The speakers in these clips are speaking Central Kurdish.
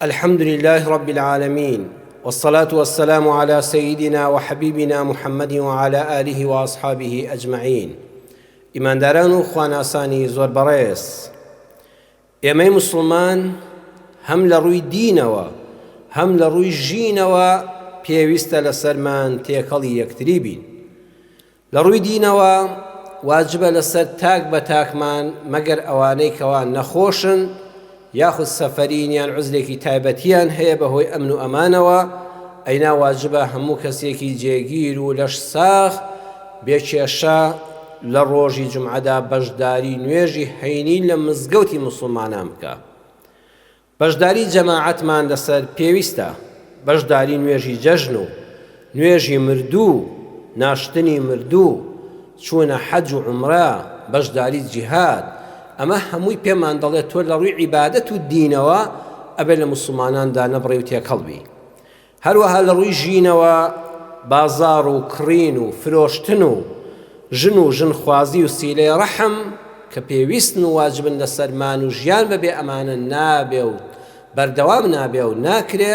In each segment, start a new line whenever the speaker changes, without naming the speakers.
الحمد للە رب العالمین والصلاة والسلام على سيدنا وحبيبنا محمد وعلى آله وأصحابه أجمعين ئیمانداران و خواناسانی زۆر بەڕێز ئێمەی مسلمان هەم لە ڕووی دینەوە هەم لە ڕووی ژینەوە پێویستە لەسەرمان تێکەڵی یەکتری بین لە ڕووی دینەوە واجبە لەسەر تاک بە تاکمان مەگەر ئەوانەی کەوا نەخۆشن یاخود سەفەرین یان عزرێکی تایبەتیان هەیە بەهۆی ئەمن و ئەمانەوە ئەینا واجبە هەموو کەسێکی جێگیر و لەش ساخ بێکێشە لە ڕۆژی جمعەدا بەشداری نوێژی حینی لە مزگەوتی مسلمانان بکە بەشداری جەماعەتمان لەسەر پێویستە، بەشداری نوێژی جەژن و نوێژی مردوو، ناشتنی مردوو، چوونە حەج و عومرە، بەشداری جیهاد، ئەمە هەمووی پێمان دەڵێت تۆ لەڕووی عیبادەت و دینەوە ئەبێت لە موسڵمانان دانەبڕێی و تێکەڵ بی. هەروەها لە ڕووی ژینەوە بازاڕ و کڕین و فرۆشتن و ژن و ژنخوازی و سیلەی ڕەحم کە پێویستن و واجبن لەسەرمان و ژیان بەبێ ئەمانە نابێ و بەردەوام نابێ و ناکرێ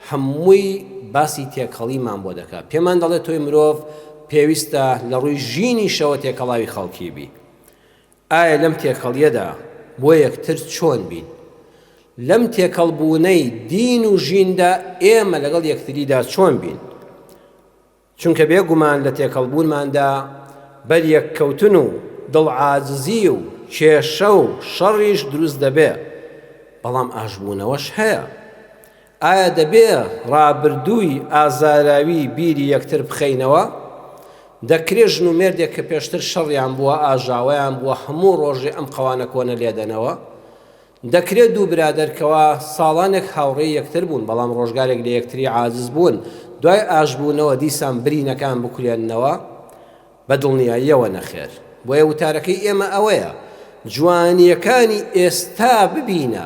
هەمووی باسی تێکەڵیمان بۆ دەکا پێمان دەڵێ تۆی مرۆڤ پێویستە لە ڕووی ژینیشەوە تێکەڵاوی خەڵکی بی ئایا لەم تێکەڵیەدا بۆ یەکتر چۆن بین؟ لەم تێکەڵ بوونەی دین و ژیندا ئێمە لەگەڵ یەکتریدا چۆن بین؟ چونکە بێگومان لە تێکەڵ بوونماندا بەر یەک کەوتن و دڵ عاجزی و کێشە و شەڕیش دروست دەبێ بەڵام ئاشبوونەوەش هەیە ئایا دەبێ ڕابردووی ئازاراوی بیری یەکتر بخەینەوە؟ دەکرێ ژن و مێردێک کە پێشتر شەڕیان بووە، ئاژاوەیان بووە، هەموو ڕۆژێ ئەم قەوانە کۆنە لێ دەنەوە؟ دەکرێ دوو برادەر کەوا ساڵانێک هاوڕێی یەکتر بوون، بەڵام ڕۆژگارێک لە یەکتری عاجز بوون، دوای ئاشبوونەوە دیسان برینەکان بکولێننەوە؟ بە دڵنیاییەوە نەخێر. بۆیە وتارەکەی ئێمە ئەوەیە، جوانییەکانی ئێستا ببینە،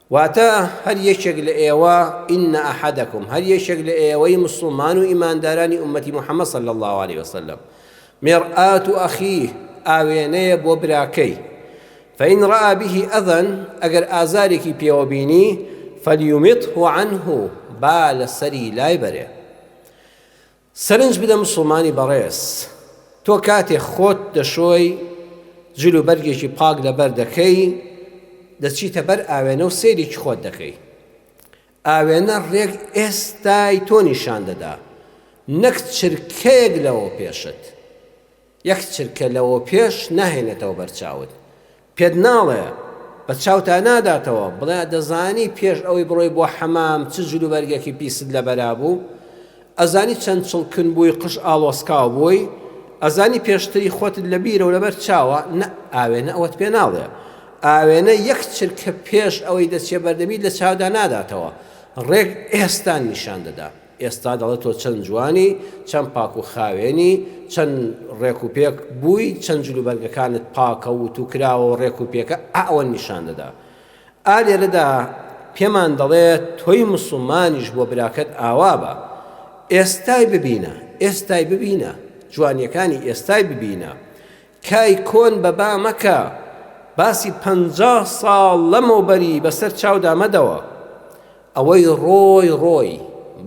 واتە، هەر یەکێک لە ئێوە، ان احدکم، هەر یەکێک لە ئێوەی موسڵمان و ئیماندارانی ئوممەتی محمد صلی اللە علیە وسلم، مرآت اخیه، ئاوێنەیە بۆ براکەی، فان رآ به اذا، ئەگەر ئازارێکی پێوە بینی، فلیمطه عنه، با لەسەری لایبەرێ. سەرنج بدە موسڵمانی بەڕێز، تۆ کاتێ خۆت دەشۆی، جل و بەرگێکی پاک لەبەر دەکەی، دەچیتە بەر ئاوێنە و سەیرێکی خۆت دەکەی. ئاوێنە ڕێک ئێستای تۆ نیشان دەدا، نەک چرکەیەک لەوەوپێشت. یەک چرکە لەوەوپێش ناهێنێتەوە بەر چاوت، پێت ناڵێ، بە چاوتا ناداتەوە، بڵێ دەزانی پێش ئەوەی بڕۆی بۆ حەمام چ جلوبەرگێکی پیست لەبەرا بوو؟ ئەزانی چەند چڵکن بووی قژ ئاڵۆسکاو بووی؟ ئەزانی پێشتری خۆتت لە بیرە و لەبەر چاوە؟ نە، ئاوێنە ئەوەت پێ ناڵێ. ئاوێنە یەک چرکە پێش ئەوەی دەچێ بەردەمیت لە چاودا ناداتەوە، ڕێک ئێستان نیشان دەدا. ئێستا دەڵێ تۆ چەند جوانی، چەند پاک و خاوێنی، چەند ڕێک و پێک بووی، چەند جل و بەرگەکانت پاکە و وتوو کراوە و ڕێک و پێکە، ئا ئەوە نیشان دەدا. ئا لێرەدا پێمان دەڵێ تۆی موسڵمانیش بۆ براکەت ئاوا بە. ئێستای ببینە، ئێستای ببینە، جوانییەکانی ئێستای ببینە. کای کۆن بە با مەکە، باسی پەنجا ساڵ لەمەوبەری بەسەر چاودا مەدەوە. ئەوەی ڕۆی ڕۆی،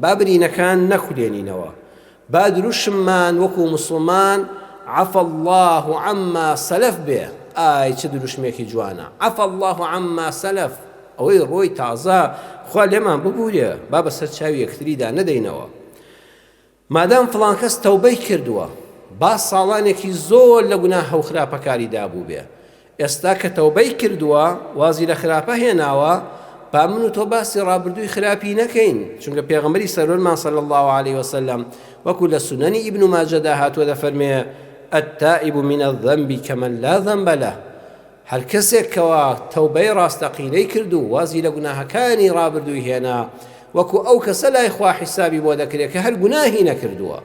با برینەکان نەکولێنینەوە، با دروشممان وەکو موسڵمان عفا اللە عما سلف بێ، ئای چ دروشمێکی جوانە، عفا اللە عما سلف، ئەوەی ڕۆی تازە خوا لێمان ببورێ، با بەسەر چاوی یەکتریدا نەدەینەوە. مادام فڵان کەس تەوبەی کردووە با ساڵانێکی زۆر لە گوناهە و خراپەکاریدا بووبێ، ئێستا کە تەوبەی کردووە وازی لە خراپە هێناوە، با من و تۆ باسی ڕابردووی خراپی نەکەین، چونکە پێغەمبەری سەروەرمان صلی اللە علیە وسلم وەکو لە سونەنی ابن ماجەدا هاتووە دەفەرموێ، التائب من الذنب کمن لا ذنب له، هەر کەسێک کەوا تەوبەی ڕاستەقینەی کرد و وازی لە گوناهەکانی ڕابردووی هێنا، وەکو ئەو کەسە لای خوا حیسابی بۆ دەکرێت کە هەر گوناهی نەکردووە.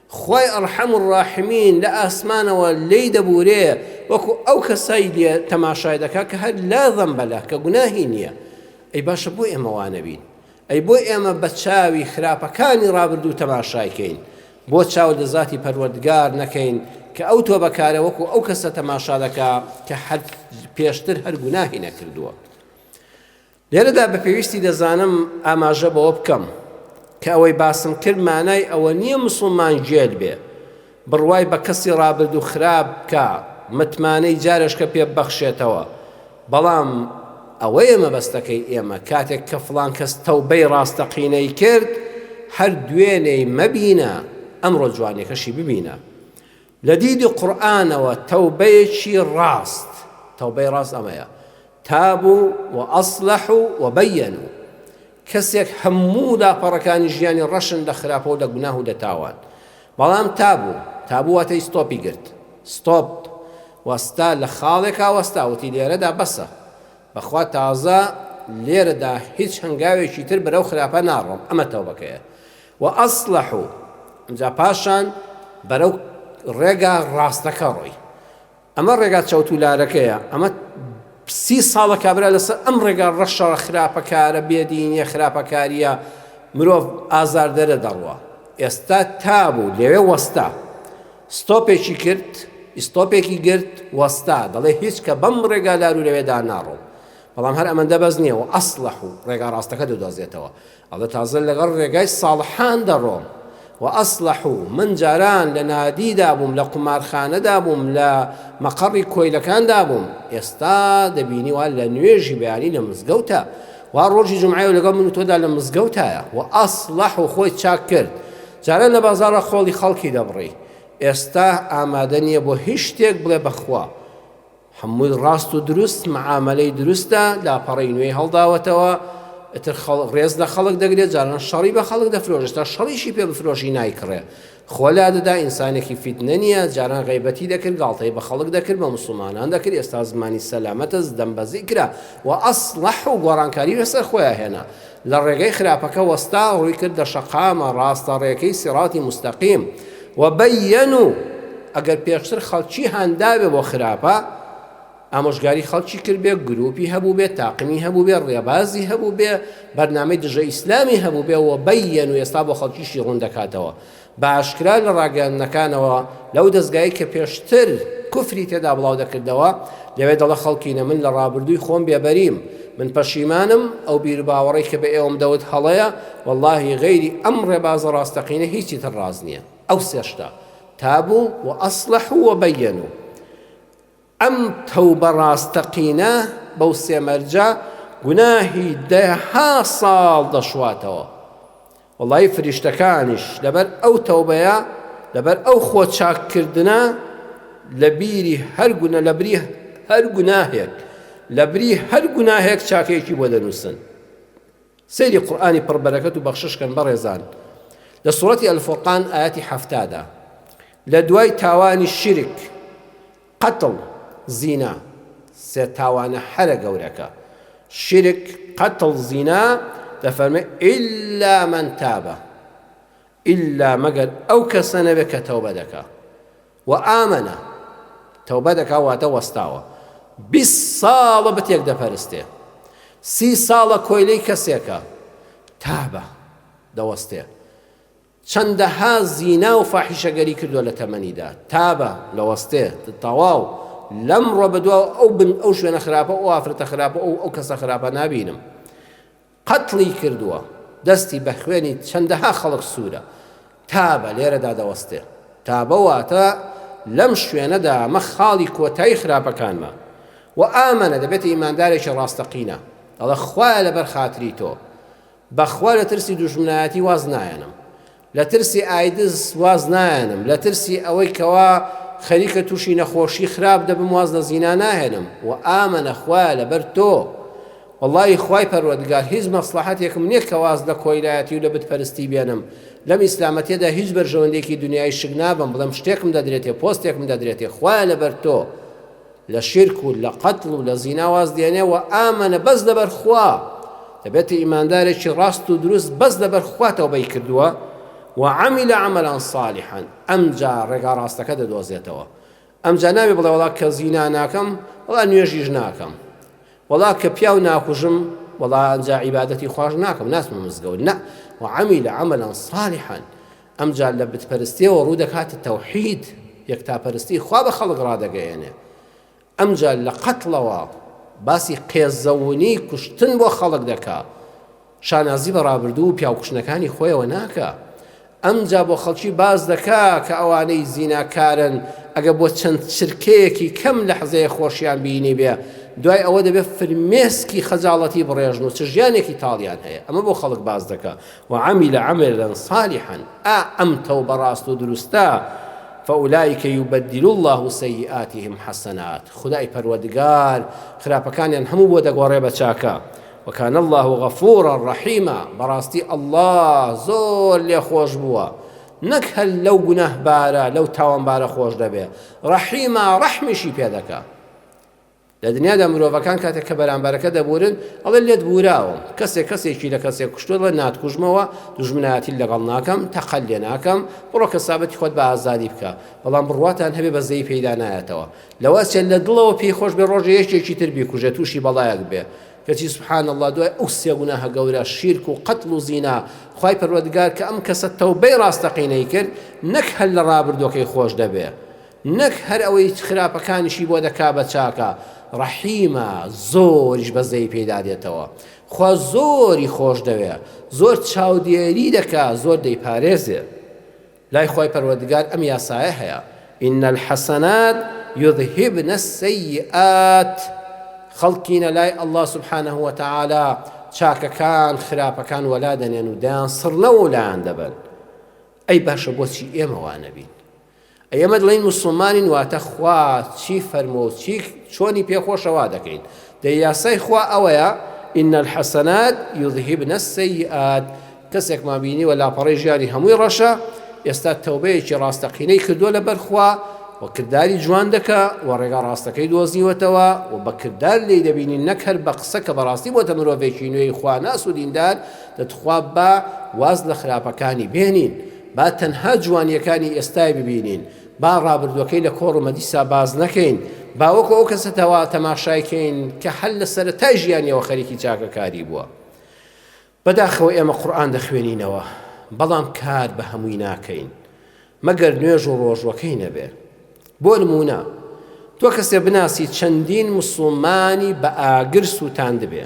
خوای ارحم الراحمین لە ئاسمانەوە لێی دەبورێ وەکو ئەو کەسەی لێ تەماشای دەکا کە هەر لا ذنب لە کە گوناهی نییە. ئەی باشە بۆ ئێمە وا نەبین؟ ئەی بۆ ئێمە بە چاوی خراپەکانی ڕابردوو تەماشای کەین؟ بۆ چاو لە زاتی پەروەردگار نەکەین کە ئەو تۆبەکارە وەکو ئەو کەسە تەماشا دەکا کە هەر پێشتر هەر گوناهی نەکردووە؟ لێرەدا بە پێویستی دەزانم ئاماژە بەوە بکەم کە ئەوەی باسم کرد مانای ئەوە نییە مسلمان گێل بێ بڕوای بە کەسی ڕابردوو خراپ بکە، متمانەی جارێشکە پێ ببەخشێتەوە، بەڵام ئەوەیە مەبەستەکەی ئێمە، کاتێک کە فڵان کەس تەوبەی ڕاستەقینەی کرد، هەر دوێنێی مەبینە، ئەمڕۆ جوانیەکەشی ببینە. لە دیدی قورئانەوە تەوبەیەکی ڕاست، تەوبەی ڕاست ئەمەیە، تابو و اصلحو و بینو، کەسێک هەموو لاپەڕەکانی ژیانی ڕەشن لە خراپە و لە گوناه و لە تاوان، بەڵام تابوو، تابوو واتەی ستۆپی گرت، ستۆپ وەستا لە خاڵێکا وەستا وتی لێرەدا بەسە، بەخوا تازە لێرەدا هیچ هەنگاوێکی تر بەرەو خراپە ناڕۆم، ئەمە تەوبەکەیە، وەئەسلەح و ئەمجا پاشان بەرەو ڕێگا ڕاستەکە ڕۆی، ئەمە ڕێگا چەوتولارەکەیە، ئەمە سی ساڵە کابرا لەسەر ئەم ڕێگا ڕەشە خراپەکارە بێدینیە خراپەکاریە مرۆڤ ئازاردەرە دەڕوا، ئێستا تابوو لەوێ وەستا ستۆپێکی کرد ئیستۆپێکی گرت وەستا دەڵێ هیچ کە بەم ڕێگا لارو لەوێدا ناڕۆم، بەڵام هەر ئەمەندە بەس نیە و ئەسڵەح و ڕێگا ڕاستەکە دەدۆزێتەوە، ئەڵێ تازە لەگەڵ ڕێگای ساڵحان دەڕۆم و ئەسڵەح و من جاران لە نادیدا بووم لە قومارخانەدا بووم لە مەقەڕی کۆیلەکاندا بووم ئێستا دەبینی وا لە نوێژی بەیانی لە مزگەوتە وا ڕۆژی جمعایە لەگەڵ من تۆدا لە مزگەوتایە و ئەسڵەح و خۆی چاک کرد جاران لە بازارە خۆڵی خەڵکی دەبڕی ئێستا ئامادە نییە بۆ هیچ شتێک بڵێ بەخوا هەمووی ڕاست و دروست معامەلەی دروستە لاپەڕەی نوێی هەڵداوەتەوە ئتر خەڵ ڕێز لە خەڵک دەگرێت جاران شەڕی بە خەڵک دەفرۆشێت تا شەڕیشی پێ بفرۆشی نایکڕێ خۆ لا دەدا ئینسانێکی فیتنە نییە جاران غەیبەتی دەکرد گاڵتەی بە خەڵک دەکرد بە مسلمانان دەکرد ئێستا زمانی سەلامەتە زدەمبەزی کرا و ئەسڵەح و گۆڕانکاری لەسەر خۆیان هێنا لە ڕێگەی خراپەکە وەستا ڕووی کردە شەقامە ڕاستە ڕێکەی سیڕاتی موستەقیم و بەیەن و ئەگەر پێشتر خەڵکی هانداوێ بۆ خراپە ئامۆژگاری خەڵکی کردبێ گروپی هەبوو بێ تاقمی هەبوو بێ ڕێبازی هەبوو بێ بەرنامەی دژە ئیسلامی هەبوو بێ و بەیەن و ئێستا بۆ خەڵکیشی ڕوون دەکاتەوە بە ئاشکرا لە ڕاگەیاندنەکانەوە لەو دەزگایەی کە پێشتر کفری تێدا بڵاو دەکردەوە لەوێ دەڵێ خەڵکینە من لە ڕابردووی خۆم بێبەریم من پەشیمانم ئەو بیر باوەڕی کە بە ئێوەم دەوت هەڵەیە واللهی غەیری ئەم ڕێبازە ڕاستەقینە هیچی تر ڕاز نییە ئەو سێشتە تابوو و ئەسلح و بەیەن و ئەم تەوبە ڕاستەقینە بەو سێ مەرجە گوناهی دەها ساڵ دەشواتەوە وەڵای فریشتەکانیش لەبەر ئەو تەوبەیە لەبەر ئەو خۆ چاککردنە لە بیری هەر گونە لە بری هەر گوناهێک لە بری هەر گوناهێک چاکێکی بۆ دەنووسن سەیری قورئانی پڕ بەرەکەت و بەخشش کەن بەڕێزان لە سورەتی الفرقان ئایەتی حەفتا دا لە دوای تاوانی شیرک قەتڵ زینا سێ تاوانە هەرە گەورەکە شیرک قەتڵ زینا دەفەرمێ ئیلا من تابە ئیلا مەگەر ئەو کەسە نەبێت کە تەوبە دەکا و ئامەنە، تەوبە دەکا واتە وەستاوە، بیست ساڵە بتێک دەپەرستێ، سی ساڵە کۆیلەی کەسێکە، تابە، دەوەستێ، چەندەها زینا و فاحیشەگەری کردووە لە تەمەنیدا، تابە، دەوەستێ، تەواو، لەمڕۆ بەدواوە ئەو بن ئەو شوێنە خراپە و ئەو ئافرەتە خراپە و ئەو کەسە خراپە نابینم، قەتڵی کردووە، دەستی بە خوێنی چەندەها خەڵک سوورە. تابە لێرەدا دەوەستێ. تابە واتە لەم شوێنەدا ئەمە خاڵی کۆتایی خراپەکانمە. و ئامنە دەبێتە ئیماندارێکی ڕاستەقینە. دەڵێ خوایە لەبەر خاتری تۆ، بە خوا لە ترسی دوژمنایەتی واز نایەنم. لە ترسی ئایدز واز نایەنم، لە ترسی ئەوەی کەوا خەریکە تووشی نەخۆشی خراپ دەبم واز لە زینا ناهێنم، وە ئامەنە خوایە لەبەر تۆ وەڵاهی خوای پەروەردگار هیچ مەسڵەحەتێکم نیە کە واز لە کۆیلایەتی و لە بت پەرستی بێنم، لەم ئیسلامە تێدا هیچ بەرژەوەندێکی دونیایی شک نابەم بڵێم شتێکم دەدرێتێ پۆستێکم دەدرێتێ خوایە لەبەر تۆ. لە شیرک و لە قەتڵ و لە زینا واز دێنێ و ئامنە بەس لەبەر خوا دەبێتە ئیماندارێکی ڕاست و دروست بەس لەبەر خوا تەوبەی کردووە وعمل عملا صالحا ئەمجا ڕێگا ڕاستەکە دەدۆزێتەوە ئەمجا ناوی بڵێ وڵا کە زینا ناکەم وڵا نوێژیش ناکەم وڵا کە پیاو ناکوژم وڵا ئەجا عیباەتی خوۆش ناکەم ناسمە مزگەوت نە وعمل عملا صالحا ئەمجا لە بتپەرستیەوە ڕوو دەکاتە تەوحید، یەکتاپەرستی، خوا بە خەڵک ڕادەگەیەنێ. ئەمجا لە قەتڵەوە باسی قێزەونی کوشتن بۆ خەڵک دەکا. شانازی بە ڕابردوو و پیاوکوشنەکانی خۆیەوە ناکا. ئەمجا بۆ خەڵکی باس دەکا کە ئەوانەی زیناکارن ئەگە بۆ چەند چرکەیەکی کەم لەحزەیە خۆشیان بینی بێ دوای ئەوە دەبێ فرمێسکی خەجاڵەتی بڕێژن و چ ژیانێکی تاڵیان هەیە ئەمە بۆ خەڵک باس دەکا وعمل عملا صالحا ئا ئەم تەوبە ڕاست و دروستە فاولئک یبدل اللە سیئاتهم حسنات خودای پەروەردگار خراپەکانیان هەموو بۆ دەگۆڕێ بە چاکە وکان اللە غفورا ڕەحیما بەڕاستی اللە زۆر لێ خۆش بووە نەک هەر لەو گوناهبارە لەو تاوانبارە خۆش دەبێ ڕەحیما ڕەحمیشی پێ دەکا لە دنیادا مرۆڤەکان کاتێک کە بەرامبەرەکە دەبورن ئەڵێ لێت بوراوم، کەسێک کەسێکی لە کەسێک کوشتووە ئەڵێ ناتکوژمەوە، دوژمنایەتیت لەگەڵ ناکەم، تەقەت لێ ناکەم، بڕۆ کەسابەتی خۆت بە ئازادی بکە، بەڵام بڕواتان هەبێ بەزەیی پێیدا نایەتەوە، لەوە چێ لە دڵەوە پێی خۆش بێ ڕۆژێ یەکێکی تر بیکوژێ تووشی بەڵایەک بێ، کەچی سبحان اللە دوای ئەو سێ گوناهە گەورە، شیرک و قەتڵ و زینا، خوای پەروەردگار کە ئەم کەسە تەوبەی ڕاستەقینەی کرد نەک هەر لە ڕابردووەکەی خۆش دەبێ، نەک هەر ئەوەی خراپەکانیشی بۆ دەکا بە چاکە ڕەحیمە زۆریش بەزەی پێیدا دێتەوە خوا زۆری خۆشدەوێ زۆر چاودێری دەکا زۆر دەیپارێزێ لای خوای پەروەردگار ئەم یاسایە هەیە ئینە الحەسەنات یذهبن السیئات خەڵکینە لای ئەلله سبحانه وتعالی چاکەکان خراپەکان وەلا دەنێن و دەیان سڕنەوە و لایان دەبن ئەی باشە بۆچی ئێمەوانەبین ئێمە دڵێین موسڵمانین واتە خوا چی فەرمووە و چی چۆنی پێخۆشە وا دەکەین دەی یاسای خوا ئەوەیە ئین الحەسەنات یذهبن السیئات کەسێکمان بینیوە لاپەڕەی ژیانی هەمووی ڕەشە ئێستا تەوبەیەکی ڕاستەقینەی کردووە لە بەرخوا و کردداری جوان دەکە و ڕێگا ڕاستەکەی دۆزیوەتەوە و بە کرددار لی دەبینی نەک هەر بە قسە کە بەڕاستی بۆتە مرۆڤێکی نوێی خواناس و دیندار دەتخوا بە واز لە خراپەکانی بێنین با تەنها جوانییەکانی ئێستای ببینین، با ڕابردووەکەی لە کۆڕ و مەدیسا باس نەکەین، با وەکو ئەو کەسە تەواوە تەماشای کەین کە هەر لە سەرەتای ژیانیەوە خەریکی چاکەکاری بووە. بەداخەوە ئێمە قورئان دەخوێنینەوە، بەڵام کار بە هەمووی ناکەین، مەگەر نوێژ و ڕۆژووەکەی نەبێ. بۆ نموونە، تۆ کەسێ بناسی چەندین موسڵمانی بە ئاگر سووتاندبێ،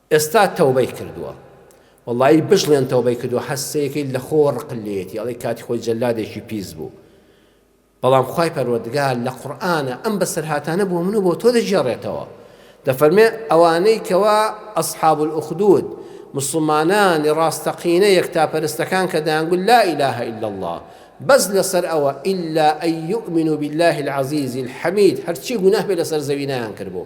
ئێستا تەوبەی کردووە. وەڵایی بژڵێن تەوبەی کردووە هە سەیەکەی لە خۆوە ڕقل لێیەتی ئەڵێی کاتی خۆی جەلادێکی پیس بوو بەڵام خوای پەروەردگار لە قورئانە ئەم بەسەرهاتانە بۆ من و بۆ تۆ دەگێڕێتەوە دەفەرمێ ئەوانەی کەوا ئەصحاب الاخدود مسلمانانی ڕاستەقینە یەکتاپەرستەکان کە دەیانگوت لا اله الا الله بەس لەسەر ئەوە ئیلا ئەی یؤمن بالله العزیز الحمید هەرچی گوناه بێ لەسەر زەوی نایان کردبوو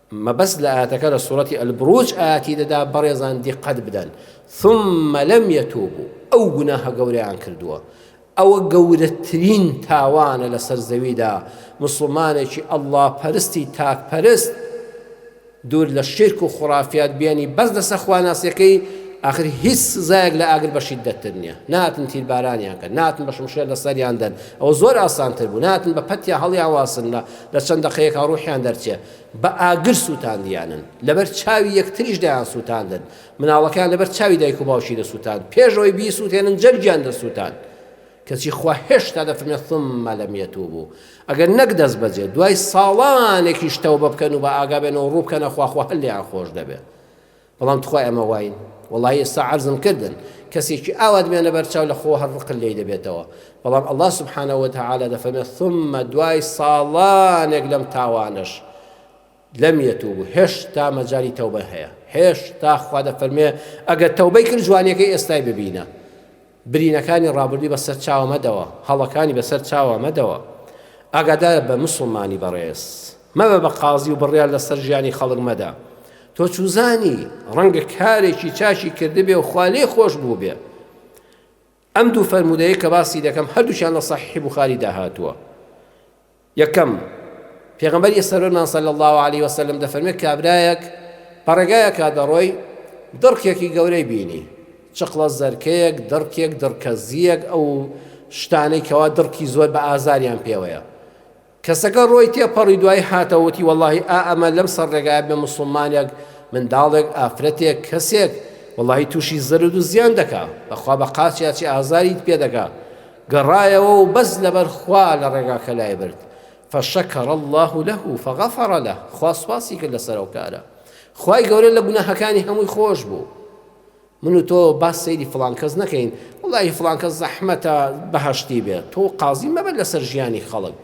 مەبەست لە ئایەتەکە لە سورەتی البروج ئایەتی دەدا بەڕێزان دیقەت بدەن ثم لم يتوبوا ئەو گوناهە گەورەیان کردووە ئەوە گەورەترین تاوانە لەسەر زەویدا مسلمانێکی ئەلله پەرستی تاک پەرست دوور لە شرک و خورافات بێنی بەس لەسە خواناسیەکەی آخر هیچ سزایەک لە ئاگر بەشی دەتر نییە ناتن تیربارانیان کە ناتن بە شمشێر لە سەریان دەن ئەوە زۆر ئاسانتر بوو ناتن بە پەتیا هەڵیان واسن لە لە چەند دەقەیەکە ڕوحیان دەرچێت بە ئاگر سووتاندیانن، لەبەر چاوی یەکتریش دەیانسووتاندن، مناڵەکەیان لەبەر چاوی دایک و باوکی دەسووتاند، پێش ئەوەی بیسووتێنن جەرگیان دەسووتاند، کەچی خوا هێشتا دەفەرمێت، ثم لم یتوبوا، ئەگەر نەک دەستبەجێ، دوای ساڵانێکیش تەوبە بکەن و بەئاگا بێن و ڕوو بکەنە خوا، خوا هەر لێیان خۆش دەبێت. بەڵام تخوا ئێمە واین وەڵایی ئێستا عەرزم کردن کەسێکی ئاوات بێنە بەرچاو لە خۆ هەر ڕقل لێی دەبێتەوە بەڵام الله سبحانە وتعاالە دەفەرمێت ثم دوای ساڵانێک لەم تاوانش لەم یەتوب هێشتا مەجای تەوبە هەیە هێشتا خوا دەفەرمێ ئەگەر تەوبەی کرد جوانەکەی ئێستای ببینە برینەکانی ڕابردووی بە سەر چاوە مەدەوە، هەڵەکانی بە سەر چاوە مەدەوە. ئاگادار بە موسڵمانی بەڕێز. مەبە بە قازی و بڕیار لە سەر ژیانی خەڵک مەدە. تۆ چوزانی، ڕەنگە کارێکی چاکی کردبێ و خوا لێی خۆش بووبێ. ئەم دوو فەرموودەیەی کە باسی دەکەم هەردووکیان لە سەحیحی بوخاری دا هاتووە. یەکەم، پێغەمبەری سەروەرمان صلی اللە علیە وسلم دەفەرمێت کابرایەک بەڕێگایەکا دەڕۆی دڕکێکی گەورەی بینی، چقڵە زەرکەیەک، دڕکێک، دڕکە زیەک، ئەو شتانەی کەوا دڕکی زۆر بە ئازاریان پێوەیە، کەسەکە ڕۆی تێپەڕی دوایی هاتەوە وتی وەڵاهی ئا ئەمە لەم سەر ڕێگایە بێ موسڵمانێک، منداڵێک، ئافرەتێک، کەسێک، وەڵاهی تووشی زەرەدو زیان دەکا، بەخوا بە قاچیاچی ئازاریت پێدەگا، گەڕایەوە و بەس لەبەر خوا لە ڕێگاکە لای برد، فشکر اللە لە فغفر لە، خوا سوپاسی کرد لەسەر ئەو کارە، خوای گەورە لە گوناهەکانی هەمووی خۆش بوو. من و تۆ با سەیری فڵان کەس نەکەین، وەڵاهی فڵان کەس زەحمەتە بەهەشتی بێت، تۆ قازی مەبە لەسەر ژیانی خەڵک،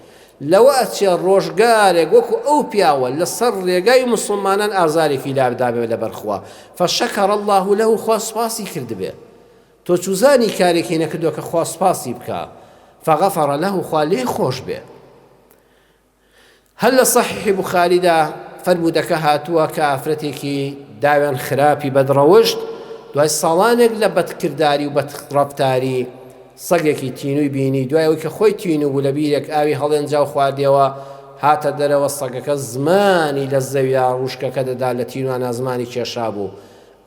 لەوە ئەچێ ڕۆژگارێک وەکو ئەو پیاوە لەسەر ڕێگای موسڵمانان ئازارێکی لابدابێ لەبەر خوا، فشکر اللە لە، خوا سوپاسی کردبێ. تۆ چوزانی کارێکی نەکردوە کە خوا سوپاسی بکا فغفر له خوا لێی خۆش بێ هەر لە صحیح بخاریدا فەرمودەکە هاتووە کە ئافرەتێکی داوێن خراپی بەدڕەوشت دوای ساڵانێک لە بەدکردداری و بەتڕفتاری سەگێکی تینوی بینی دوای ئەوی کە خۆی تین و لە بیرێک ئاوی هەڵێنجا و خواردەوە هاتە دەرەوە سەگەکە زمانی لە زەویا ڕوشکەکە دەدا لە تینوانە زمانی کێشا بوو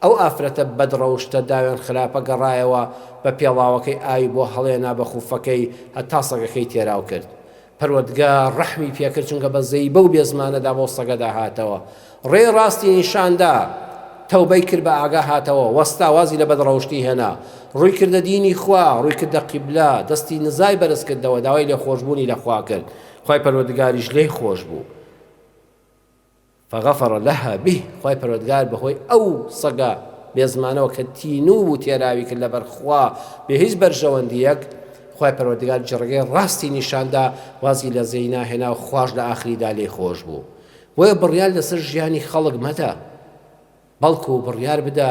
ئەو ئافرەتە بەد ڕەوشتە داوێن خراپە گەڕایەوە بە پێڵاوەکەی ئاوی بۆ هەڵێنا بە خوفەکەی هەتا سەگەکەی تێراو کرد پەروەدگا ڕەحمی پێکرد چونکە بە زەیبە و بێ زمانەدا بەو سەگەدا هاتەوە ڕێی ڕاستی نیشاندا تەوبەی کرد بە ئاگا هاتەوە وەستا وازی لە بەد ڕەوشتی هێنا ڕووی کردە دینی خوا ڕووی کردە قیبلا دەستی نزای بەرز کردەوە داوای لێ خۆشبوونی لە خوا کرد خوای پەروەدگاریش لێی خۆش بوو فغفر لها به خوای پەروەردگار بەهۆی ئەو سەگە بێزمانەوە کە تینوو بوو تێراوی کرد لەبەر خوا بێ هیچ بەرژەوەندیەک خوای پەروەردگار جڕگەی ڕاستی نیشاندا وازی لە زێی ناهێنا و خواش لە ئاخریدا لێی خۆش بوو بۆیە بڕیار لەسەر ژیانی خەڵک مەدە بەڵکو بڕیار بدە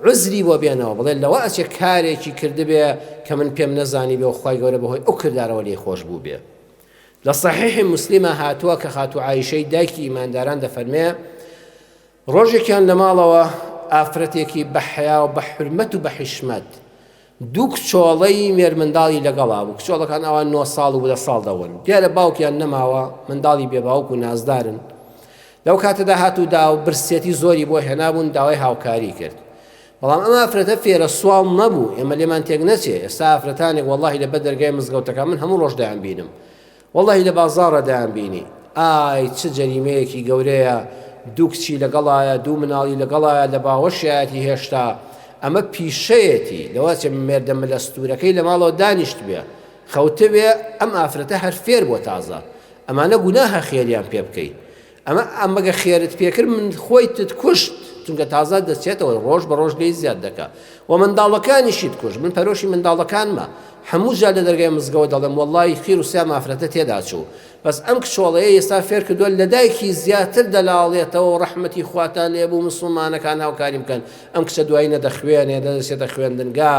عوزری بۆ بێنەوە بڵێ لەوە ئەچێ کارێکی کردبێ کە من پێم نەزانیبێ و خوای گەورە بەهۆی ئەو کردارەوە لێی خۆش بووبێ لە صحیحی مسلمە هاتووە کە خاتو عیشەی دایکی ئیمانداران دەفەرمێ ڕۆژێکیان لە ماڵەوە ئافرەتێکی بەحیا و بە حرمەت و بە حیشمەت دوو کچۆڵەی مێرمنداڵی لەگەڵا بوو، کچۆڵەکان ئەوا نۆ ساڵ و دە ساڵ دەوەن، دیارە باوکیان نەماوە، منداڵی بێ باوک و نازدارن. لەو کاتەدا هاتوو دا و برسێتی زۆری بۆ هێنابوون، داوای هاوکاری کرد. بەڵام ئەم ئافرەتە فێرە سواڵ نەبوو، ئێمە لێمان تێک نەچێ، ئێستا ئافرەتانێک وەڵڵاهی لەبەر دەرگای مزگەوتەکان من هەموو ڕۆژ دەیانبینم، وەڵاهی لە بازاڕە دایان بینی. ئای چ جەریمەیەکی گەورەیە دوو کچی لەگەڵایە دوو مناڵی لەگەڵایە لە باوەشیایەتی هێشتا ئەمە پیشەیەتی لەوە چێ مێردە ملە ستورەکەی لە ماڵەوە دانیشتبێ خەوتبێ ئەم ئافرەتە هەر فێر بوە تازە ئەمانە گوناهە خێریان پێ بکەی ئەمە ئەمەگە خێرت پێکرد من خۆیتت کوشت چونکە تازە دەچێتەوە ڕۆژ بە ڕۆژ لێی زیاد دەکە و منداڵەکانیشیت کوش من پەرۆشی منداڵەکانمە هەموو جار لە دەرگای مزگەوە دەڵێم وەڵی خیر و سیا مافرەتە تێداچوو بەس ئەم کچۆڵەیە ئێستا فێر کردووە لە دایکی زیاتر دەلاڵێتەوە و ڕەحمەتی خواتان لێ بوو مسلمانەکان هاوکاری بکەن ئەم کچە دوایی نەدەخوێنێ دەدەچێتە خوێندنگا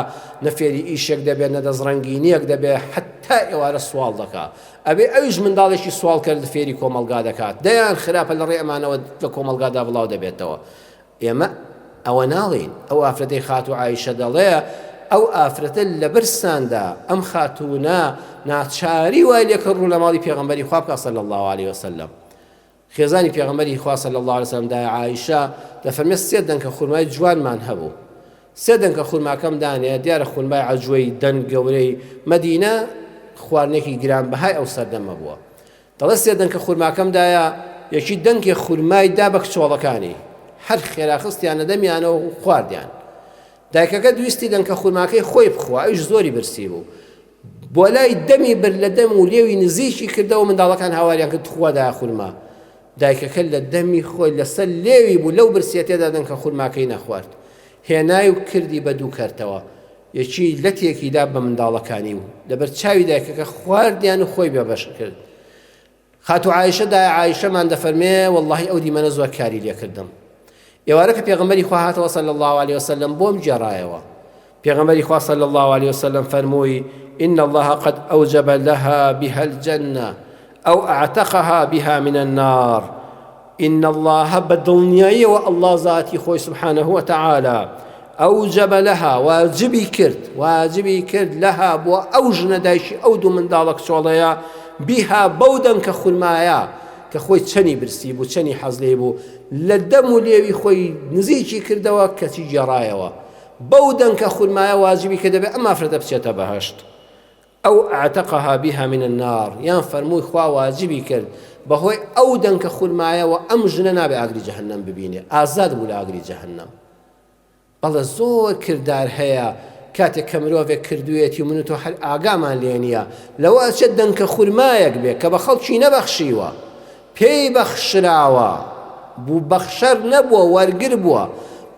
نەفێری ئیشێک دەبێت نەدەست ڕەنگینیەک دەبێت حتا ئێوارە سوواڵ دەکا ئەبێ ئەویش منداڵێکی سواڵکەر فێری کۆمەڵگا دەکات، دەیان خراپە لەڕێی ئەمانەوە لە کۆمەڵگادا بڵاو دەبێتەوە. ئێمە ئەوە ناڵێین، ئەو ئافرەتەی خاتوو ئایشە دەڵێ، ئەو ئافرەتە لەبەرزتاندا، ئەم خاتوونە ناچاری وای لێکرد ڕوو لە ماڵی پێغەمبەری خوا بکات صلی اللە علیە وسلم. خێزانی پێغەمبەری خوا صلی اللە علیە وسلم دایە عائیشە دەفەرمێت سێ دەنکە خورمای جوانمان هەبوو سێ دەنکە خورماکەم دانێ دیارە خورمای عەجوەی دەنگ گەورەی مەدینە خواردنێکی گران بەهای ئەو سەردەمە بووە دەڵێ سێ دەنکە خورماکەم دایە یەکی دەنکێ خورمای دا بە کچۆڵەکانی هەر خێرا خستیانە دەمیانەوە خواردیان دایکەکە دویستی دەنکە خورماکەی خۆی بخوا ئەوش زۆری برسی بوو بۆلای دەمی برد لە دەم و لێوی نزیکی کردەوە منداڵەکان هاواریان کرد تخوا دایە خورما دایکەکە لە دەمی خۆی لەسەر لێوی بوو لەو برسیە تێدا دەن کە خورماکەی نەخوارد هێنای و کردی بە دوو کەرتەوە یەکی لەتێکیدا بە منداڵەکانی و لەبەر چاوی دایکەکە خواردیان و خۆی بێبەش کرد خاتوو عائیشە دایە عائیشەمان دەفەرمێ واللەهی ئەو دیمەنە زۆر کاری لێکردم ئێوارە کە پێغەمبەری خوا هاتەوە صلی الله علیه وسلم بۆم گێڕایەوە پێغەمبەری خوا صلی الله علیه وسلم فەرمووی إن الله قد أوجب لها بها الجنة أو أعتقها بها من النار ان اللە بە دڵنیاییەوە اللە زاتی خۆی سبحانە و تعالی ئەوجەبە لەها واجبی کرد واجبی کرد لەها بۆ ئەو ژنە دایکی ئەو دوو منداڵە کچۆڵەیە بیها بەو دەنگ کە خورمایە کە خۆی چەنی برسی بوو چەنی حەز لێ بوو لە دەم و لێوی خۆی نزیکی کردەوە کەچی گێڕایەوە بەو دەنکە خورمایە واجبی کە دەبێت ئەم ئافرەتە بچێتە بەهەشت ئەو اعتقها بها من النار یان فەرمووی خوا واجبی کرد بەهۆی ئەو دەنکە خورمایەوە ئەم ژنە نابێ ئاگری جەهەنەم ببینێ ئازاد بوو لە ئاگری جەهەنەم بەڵێ زۆر کردار هەیە کاتێک کە مرۆڤێک کردوێتی و من و تۆ هەر ئاگامان لێ نییە لەوە ئەچێت دەنکە خورمایەک بێ کە بە خەڵکی نەبەخشیوە پێی بەخشراوە، بوو بەخشەر نەبووە وەرگر بووە،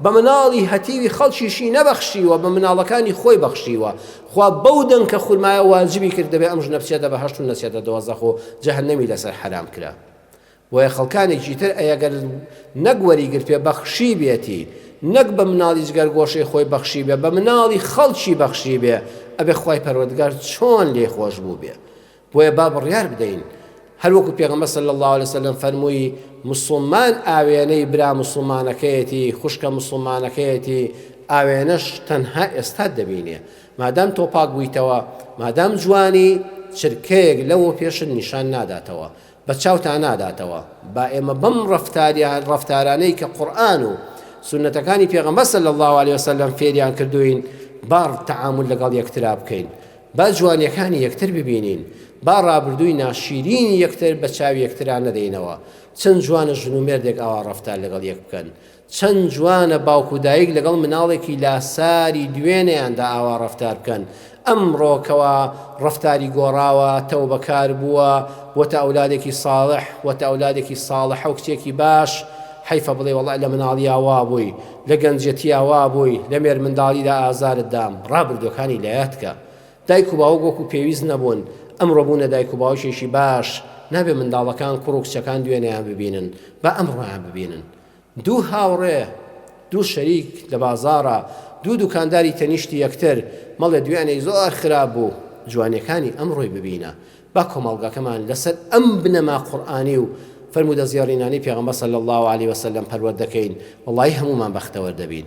بە مناڵی هەتیوی خەڵکیشی نەبەخشیوە بە مناڵەکانی خۆی بەخشیوە، خوا بەو دەنکە خورمایە واجبی کرد دەبێ ئەم ژنە بچێتە بەهەشت و نەچێتە دۆزەخ و جەهەنەمی لەسەر حەرام کرا بۆیە خەڵکانێکی تر ئەی گەر نەک وەریگرتبێ بەخشیبێتی نەک بە مناڵی جگەر گۆشەی خۆی بەخشیبێ بە مناڵی خەڵکی بەخشیبێ ئەبێ خوای پەروەردگار چۆن لێی خۆش بووبێ بۆیە با بڕیار بدەین هەر وەکو پێغەمبەر صلی الله علیه وسلم فەرمووی مسلمان ئاوێنەی برا مسلمانەکەیەتی خوشکە مسلمانەکەیەتی ئاوێنەش تەنها ئێستا دەبینێ مادام تۆ پاک بوویتەوە مادام جوانی چرکەیەک لەوە پێشت نیشان ناداتەوە بە چاوتا ناداتەوە با ئێمە بەم ڕەفتاریان ڕەفتارانەی کە قورئان و سونەتەکانی پێغەمبەر صلی الله علیه وسلم فێریان کردوین با تعامل لەگەڵ یەکترا بکەین با جوانیەکانی یەکتر ببینین با ڕابردووی ناشیرین یەکتر بە چاوی یەکترا نەدەینەوە چەند جوانە ژن و مێردێک ئاوا ڕەفتار لەگەڵ یەک بکەن چەند جوانە باوک و دایک لەگەڵ مناڵێکی لاساری دوێنێیاندا ئاوا ڕەفتار بکەن ئەمڕۆ کەوا ڕەفتاری گۆڕاوە تەوبەکار بووە بۆتە ئەولادێکی صاڵح بۆتە ئەولادێکی صاڵحە و کچێکی باش حەیفە بڵێی وەڵا لە مناڵیا وا بووی لە گەنجێتیا وا بووی لە مێرمنداڵیدا ئازارت دام ڕابردووەکانی لایەت کە دایک و باوک وەکو پێویست نەبوون ئەمڕۆ بوونە دایک و باوکێکی باش نابێ منداڵەکان کوڕ و کچەکان دوێنێیان ببینن با ئەمڕۆیان ببینن دوو هاوڕێ، دوو شەریک لە بازاڕ، دوو دوکانداری تەنیشتی یەکتر، مەڵێ دوێنێی زۆر خراپ بوو، جوانیەکانی ئەمڕۆی ببینە، با کۆمەڵگەکەمان لەسەر ئەم بنەما قورئانی و فەرموودە زێڕینانەی پێغەمبەر صلی اللە علیە وسلم پەروەردە کەین، وەڵایی هەموومان بەختەوەر دەبین.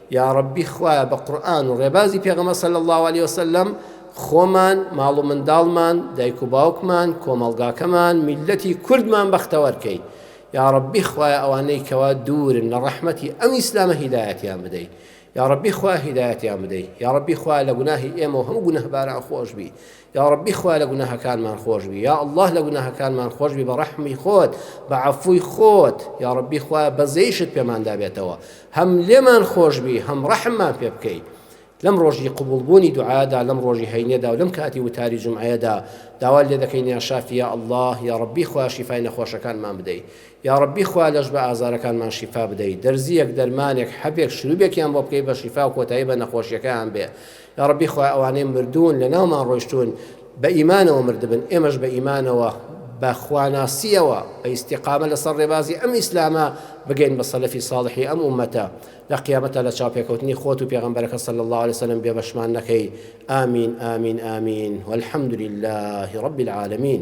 یاڕەبی خوایە بە قورئان و ڕێبازی پێغەمبەر صلی اللە علیە وسلم خۆمان ماڵ و منداڵمان دایک و باوکمان کۆمەڵگاکەمان میلەتی کوردمان بەختەوەر کەی یاڕەبی خوایە ئەوانەی کەوا دوورن لە ڕەحمەتی ئەم ئیسلامە هیدایەتیان بدەی یاڕەبی خوا هیدایەتیان بدەی یاڕەبی خوا لە گوناهی ئێمە و هەموو گونهباران خۆشبی یاڕەبی خوا لە گوناهەکانمان خۆشبی یا اللە لە گوناهەکانمان خۆشبی بە ڕەحمی خۆت بە عەفووی خۆت یاڕەبی خوا بەزەیشت پێماندا بێتەوە هەم لێمان خۆشبی هەم ڕەحممان پێ بکەیت لەم ڕۆژی قوبولبوونی دوعادا لەم ڕۆژی هەینێدا و لەم کاتی وتاری جمعەیەدا داوا لێ دەکەین یا شافیا الله یا ڕبی خوا شیفای نەخۆشەکانمان بدەیت یا ڕبی خوا لەش بە ئازارەکانمان شیفا بدەیت دەرزیەک دەرمانێک حەبێک شروبێکیان بۆ بکەی بە شیفا و کۆتایی بە نەخۆشیەکەیان بێ یاڕەبی خوایە ئەوانەی مردوون لەناومان ڕۆیشتوون بە ئیمانەوە مردبن ئێمەش بە ئیمانەوە بە خواناسیەوە بە ئیستیقامە لەسەر ڕێبازی ئەم ئیسلامە بگەین بە سەلەفی ساڵحی ئەم ومەتە لە قیامەتە لە چاپێکەوتنی خۆت و پێغمبەرەکە سەل الله عليه وسلم بێبەشمان نەکەی ئامین ئامین ئامین والحمد لله رب العالمین